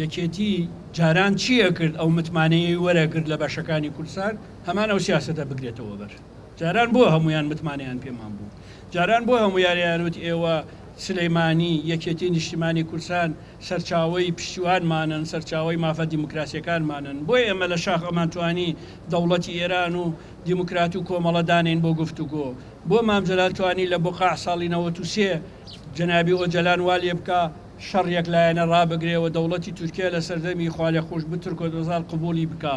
یەکێتی جاران چی ئەکرد ئەو متمانەیەی وەرئەگرت لە بەشەکانی کوردسات هەمان ئەو سیاسەتە بگرێتەوە بەر جاران بۆ هەموویان متمانەیان پێمان بوو جاران بۆ هەموو یاریانوت ئێوە سلەیمانی یەکێتی نیشتیمانی کوردسان سەرچاوەی پشتیوانمانن سەرچاوەی مافە دیموکراسیەکانمانن بۆیە ئێمە لە شاخ ئەمانتوانی دەوڵەتی ئێران و دیموکرات و کۆمەڵە دانین بۆ گفتوگۆ بۆ مام جەلال توانی لە بقاع ساڵی نەوەت و سێ جەنابی ئۆجەلان والێ بکا شەڕ یەک لایەنە ڕابگرێ و دەوڵەتی تورکیا لە سەردەمی خوالێخۆشبوو ترکۆت ئۆزال قبووڵی بکا.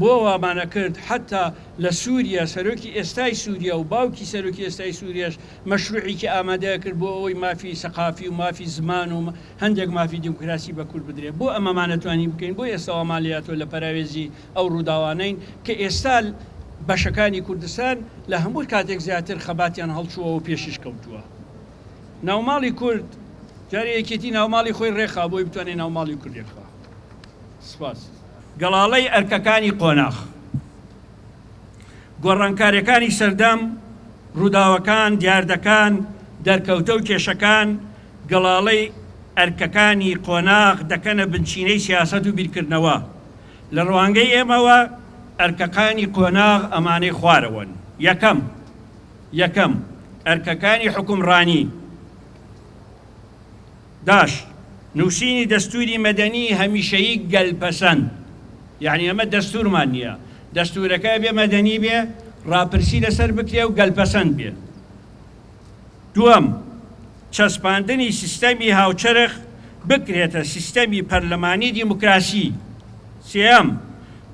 بۆ وامان ئەکرد حەتتا لە سووریە سەرۆکی ئێستای سووریە و باوکی سەرۆکی ئێستای سووریەش مەشرووعێکی ئامادە ئەکرد بۆ ئەوەی مافی سەقافی و مافی زمان و هەندێک مافی دیموکراسی بە کورد بدرێ. بۆ ئەمەمان نەتوانی بکەین؟ بۆ ئێستا وامان لێ هاتووە لە پەراوێزی ئەو ڕووداوانەین کە ئێستا بەشەکانی کوردستان لە هەموو کاتێک زیاتر خەباتیان هەڵچووە و پێشیش کەوتووە. ناوماڵی کورد جارێ یەکێتی ناوماڵی خۆی ڕێکخا بۆی بتوانێت ناوماڵی کورد یەکخوا سپاس. گەڵاڵەی ئەرکەکانی قۆناخ گۆڕانکارەکانی سەردەم، ڕووداوەکان، دیاردەکان، دەرکەوتە و کێشەکان گەڵاڵەی ئەرکەکانی قۆناخ دەکەنە بنچینەی سیاسەت و بیرکردنەوە. لە ڕوانگەی ئێمەوە ئەرکەکانی قۆناغ ئەمانەی خوارەوەن، یەکەم. یەکەم، ئەرکەکانی حوکمڕانی، داش، نووسینی دەستووری مەدەنیی هەمیشەیی گەلپەسەند، یەعنی ئێمە دەستوورمان نییە، دەستوورەکە ئەبێ مەدەنی بێ، ڕاپرسی لەسەر بکرێ و گەلپەسەند بێ. دووەم، چەسپاندنی سیستەمی هاوچەرخ بکرێتە سیستەمی پەرلەمانی دیموکراسی. سێیەم،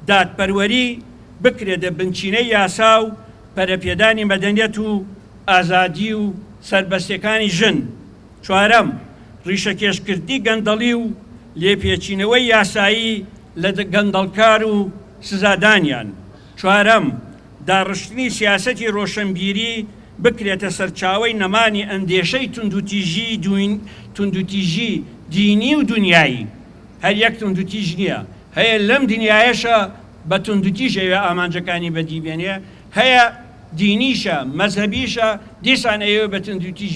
دادپەروەری بکرێتە بنچینەی یاسا و، پەرەپێدانی مەدەنیەت و ئازادی و سەربەستیەکانی ژن. چوارەم، ڕیشەکێشکردنی گەندەڵی و لێپێچینەوەی یاسایی لە گەندەڵکار و سزادانیان. چوارەم، داڕشتنی سیاسەتی ڕۆشنبیری بکرێتە سەرچاوەی نەمانی ئەندێشەی توندوتیژی دینی و دونیایی. هەر یەک توندوتیژ نیە، هەیە لەم دونیایەشە بە توندوتیژ ئەیەوێ ئامانجەکانی بەدی بێنێ، هەیە دینیشە، مەزهەبیشە، دیسان ئەیەوێ بە توندوتیژ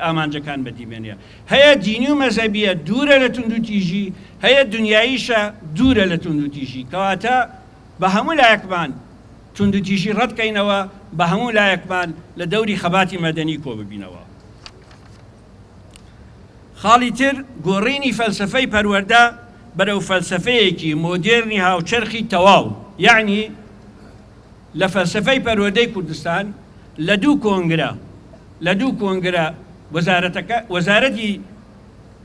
ئامانجەکان بەدی بێنێ. هەیە دینی و مەزهەبییە، دوورە لە توندوتیژی، هەیە دونیاییشە، دوورە لە توندوتیژی. کەواتە بە هەموو لایەکمان توندوتیژی ڕەت کەینەوە، بە هەموو لایەکمان لە دەوری خەباتی مەدەنی کۆ ببینەوە. خاڵی تر، گۆڕینی فەلسەفەی پەروەردە بەرەو فەلسەفەیەکی مۆدێرنی هاوچەرخی تەواو، یەعنی لە فەلسەفەی پەروەردەی کوردستان لە دوو کۆنگرە لە دوو کۆنگرە وەزارەتەکە وەزارەتی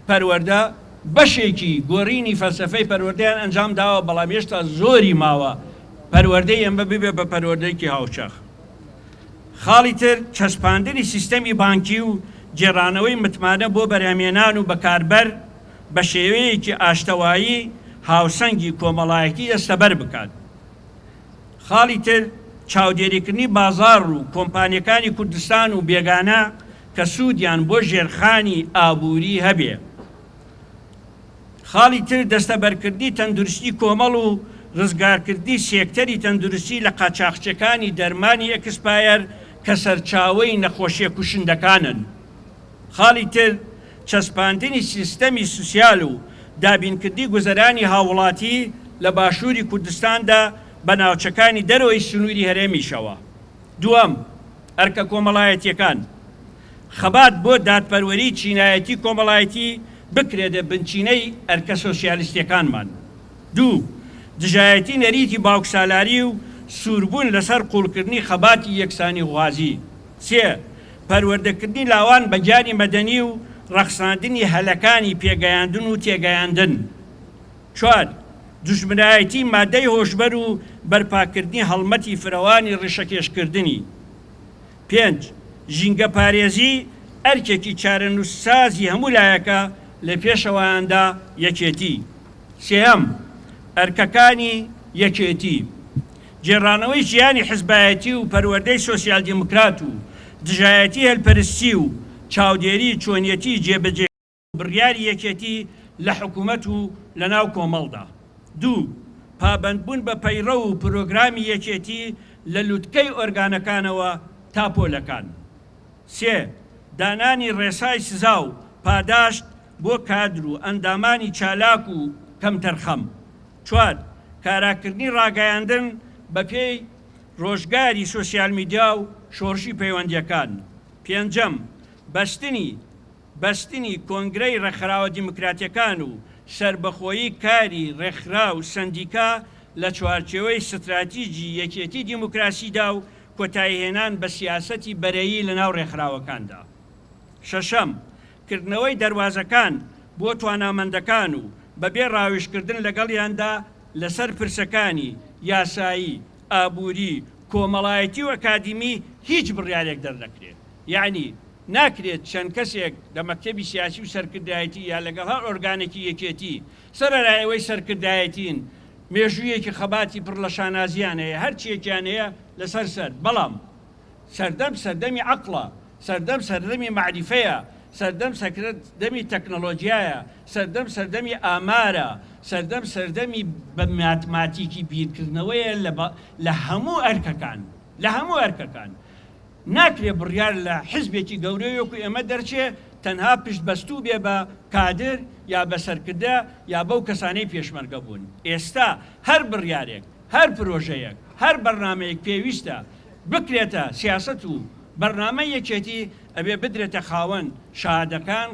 پەروەردە بەشێکی گۆڕینی فەلسەفەی پەروەردەیان ئەنجام داوە بەڵام هێشتا زۆری ماوە پەروەردەی ئێمە ببێ بە پەروەردەیەکی هاوچەرخ. خاڵی تر، چەسپاندنی سیستەمی بانکی و گێڕانەوەی متمانە بۆ بەرهەمێنان و بەکاربەر بە شێوەیەکی ئاشتەوایی هاوسەنگی کۆمەڵایەتی دەستەبەر بکات. خاڵی تر، چاودێریکردنی بازاڕ و کۆمپانیەکانی کوردستان و بێگانە کە سوودیان بۆ ژێرخانی ئابووری هەبێ. خاڵی تر دەستەبەرکردنی تەندروستی کۆمەڵ و ڕزگارکردنی سێکتەری تەندروستی لە قاچاخچێکانی دەرمانی ئێکسپایەر کە سەرچاوەی نەخۆشیە کوشندەکانن. خاڵی تر چەسپاندنی سیستەمی سوسیال و دابینکردنی گوزەرانی هاووڵاتی لە باشووری کوردستاندا بە ناوچەکانی دەرەوەی سنووری هەرێمیشەوە. دووەم، ئەرکە کۆمەڵایەتیەکان. خەبات بۆ دادپەروەری چینایەتی کۆمەڵایەتی بکرێتە بنچینەی ئەرکە سۆسیالیستیەکانمان. دوو. دژایەتی نەریتی باوکسالاری و سووربوون لەسەر قووڵکردنی خەباتی یەکسانیخوازی. سێ. پەروەردەکردنی لاوان بە گیانی مەدەنی و ڕەخساندنی هەلەکانی پێگەیاندن و تێگەیاندن. چوار. دوژمنایەتی مادەی هۆشبەر و بەرپاکردنی هەڵمەتی فرەوانی ڕیشەکێشکردنی. پێنج، ژینگەپارێزی ئەرکێکی چارەنووسسازی هەموو لایەکە، لە پێشەوەیاندا یەکێتی. سێیەم، ئەرکەکانی یەکێتی، گێڕانەوەی ژیانی حزبایەتی و پەروەردەی سۆسیال دیموکرات و دژایەتی هەلپەرستی و چاودێری چۆنیەتی جێبەجێکردنی، بڕیاری یەکێتی لە حکومەت و لە ناو کۆمەڵدا. دوو. پابەندبوون بە پەیڕەو و پرۆگرامی یەکێتی لە لوتکەی ئۆرگانەکانەوە تا پۆلەکان. سێ. دانانی ڕێسای سزا و پاداشت بۆ کادر و ئەندامانی چالاک و کەمتەرخەم. چوار. کاراکردنی ڕاگەیاندن بە پێی ڕۆژگاری سۆسیال میدیا و شۆڕشی پەیوەندییەکان. پێنجەم. بەستنی. بەستنی کۆنگرەی ڕێکخراوە دیموکراتیەکان و سەربەخۆیی کاری ڕێکخراو و سەندیکا لە چوارچێوەی ستراتیجی یەکێتی دیموکراسیدا و کۆتایی هێنان بە سیاسەتی بەرەیی لە ناو ڕێکخراوەکاندا. شەشەم، کردنەوەی دەروازەکان بۆ توانامەندەکان و بەبێ ڕاویژکردن لەگەڵیاندا لەسەر پرسەکانی، یاسایی، ئابوری، کۆمەڵایەتی و ئەکادیمی هیچ بڕیارێک دەرنەکرێت. یەعنی ناکرێت چەند کەسێک لە مەکتەبی سیاسی و سەرکردایەتی یا لەگەڵ هەر ئۆرگانێکی یەکێتی، سەرەرای ئەوەی سەرکردایەتین، مێژوویەکی خەباتی پڕ لە شانازییان هەیە، هەرچییەکیان هەیە لەسەر سەر، بەڵام سەردەم سەردەمی عەقڵە، سەردەم سەردەمی مەعریفەیە، سەردەم سەردەمی تەکنەلۆجیایە، سەردەم سەردەمی ئامارە، سەردەم سەردەمی بە ماتماتیکی بیرکردنەوەیە لە هەموو ئەرکەکان، لە هەموو ئەرکەکان. ناکرێ بڕیار لە حزبێکی گەورەی وەکو ئێمە دەرچێ تەنها پشت بەستوو بێ بە کادر یا بە سەرکردە یا بەو کەسانەی پێشمەرگە بوون. ئێستا هەر بڕیارێک. هەر پرۆژەیەک، هەر بەرنامەیەک پێویستە بکرێتە سیاسەت و بەرنامەی یەکێتی، ئەبێ بدرێتە خاوەن شاهدەکان،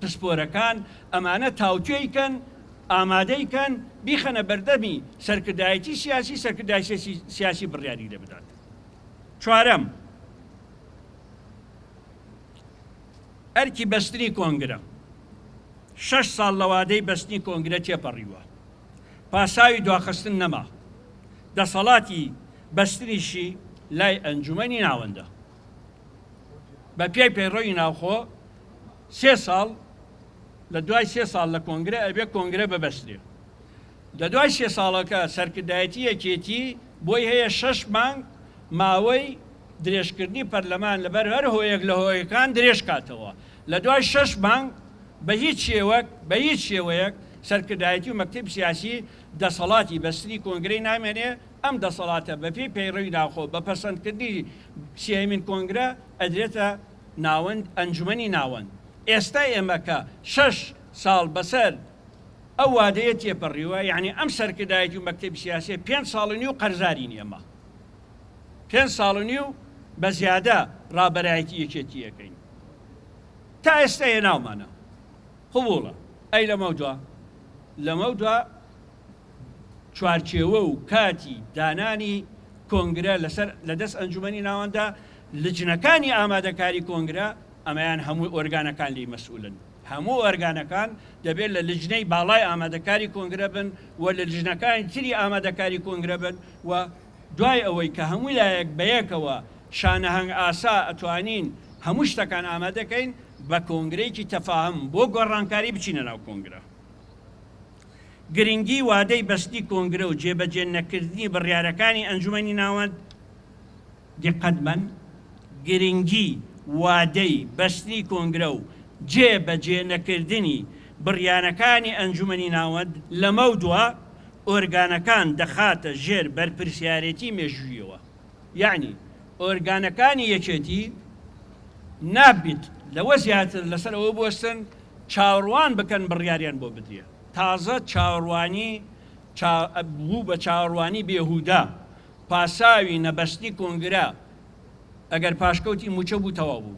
پسپۆرەکان، ئەمانە تاوتوێی کەن، ئامادەی کەن، بیخەنە بەردەمی سەرکردایەتی سیاسی، سەرکردایەتی سیاسی بڕیاری لێ بدات. چوارەم، ئەرکی بەستنی کۆنگرە، شەش ساڵ لە وادەی بەستنی کۆنگرە تێپەڕیوە، پاساوی دواخستن نەما، دەسەڵاتی بەستنیشی لای ئەنجومەنی ناوەندە. بە پێی پەیڕەوی ناوخۆ سێ ساڵ لە دوای سێ ساڵ لە کۆنگرە ئەبێ کۆنگرە ببەسترێ. لە دوای سێ ساڵەکە سەرکردایەتی یەکێتی بۆی هەیە شەش مانگ ماوەی درێژکردنی پەرلەمان لە بەر هەر هۆیەک لە هۆیەکان درێژ کاتەوە. لە دوای شەش مانگ بە هیچ شێوەک بە هیچ شێوەیەک سەرکردایەتی و مەکتەب سیاسی دەسەڵاتی بەستنی کۆنگرەی نامێنێ، ئەم دەسەڵاتە بە پێی پەیڕەوی ناوخۆ بە پەسەندکردنی سێیەمین کۆنگرە ئەدرێتە ناوەند ئەنجومەنی ناوەند. ئێستا ئێمە کە شەش ساڵ بەسەر ئەو وادەیە تێپەڕیوە، یەعنی ئەم سەرکردایەتی و مەکتەبی سیاسیە پێنج ساڵ و نیو قەرزارین ئێمە. پێنج ساڵ و نیو بە زیادە ڕابەرایەتی یەکێتی ئەکەین. تا ئێستا هێناومانە. قبوڵە ئەی لەمەودوا؟ لەمەودوا چوارچێوە و کاتی دانانی کۆنگرە لەسەر لەدەست ئەنجومەنی ناوەندە، لجنەکانی ئامادەکاری کۆنگرە ئەمەیان هەموو ئۆرگانەکان لێی مەسئولن، هەموو ئۆرگانەکان دەبێت لە لجنەی باڵای ئامادەکاری کۆنگرە بن و لە لجنەکانی تری ئامادەکاری کۆنگرە بن و دوای ئەوەی کە هەموو لایەک بەیەکەوە شانەهەنگ ئاسا ئەتوانین هەموو شتەکان ئامادە کەین بە کۆنگرەیەکی تەفاهم بۆ گۆڕانکاری بچینە ناو کۆنگرە. گرنگی وادەی بەستنی کۆنگرە و جێبەجێ نەکردنی بڕیارەکانی ئەنجومەنی ناوەند دیقەت بەن گرنگی وادەی بەستنی کۆنگرە و جێ بەجێ نەکردنی بڕیارەکانی ئەنجومەنی ناوەند لەمەودوا ئۆرگانەکان دەخاتە ژێر بەرپرسیارێتی مێژووییەوە، یەعنی ئۆرگانەکانی یەکێتی نابیت لەوە زیاتر لەسەر ئەوە بوەستن چاوەڕوان بکەن بڕیاریان بۆ بدرێ، تازە چاوەڕوانی چا بوو بە چاوەڕوانی بێهوودە، پاساوی نەبەستنی کۆنگرە ئەگەر پاشکەوتی مووچە بوو تەواو بوو.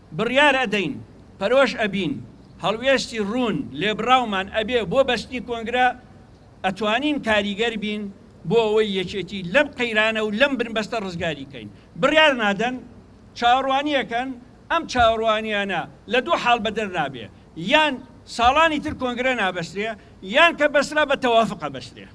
بڕیار ئەدەین، پەرۆش ئەبین، هەڵوێستی ڕوون، لێبڕاومان ئەبێ بۆ بەستنی کۆنگرە، ئەتوانین کاریگەر بین بۆ ئەوەی یەکێتی لەم قەیرانە و لەم بنبەستە ڕزگاری کەین. بڕیار نادەن، چاوەڕوانی ئەکەن، ئەم چاوەڕوانییانە لە دوو حاڵ بەدەر نابێ، یان ساڵانی تر کۆنگرە نابەسترێ، یان کە بەسترا بە تەوافق ئەبەسترێ.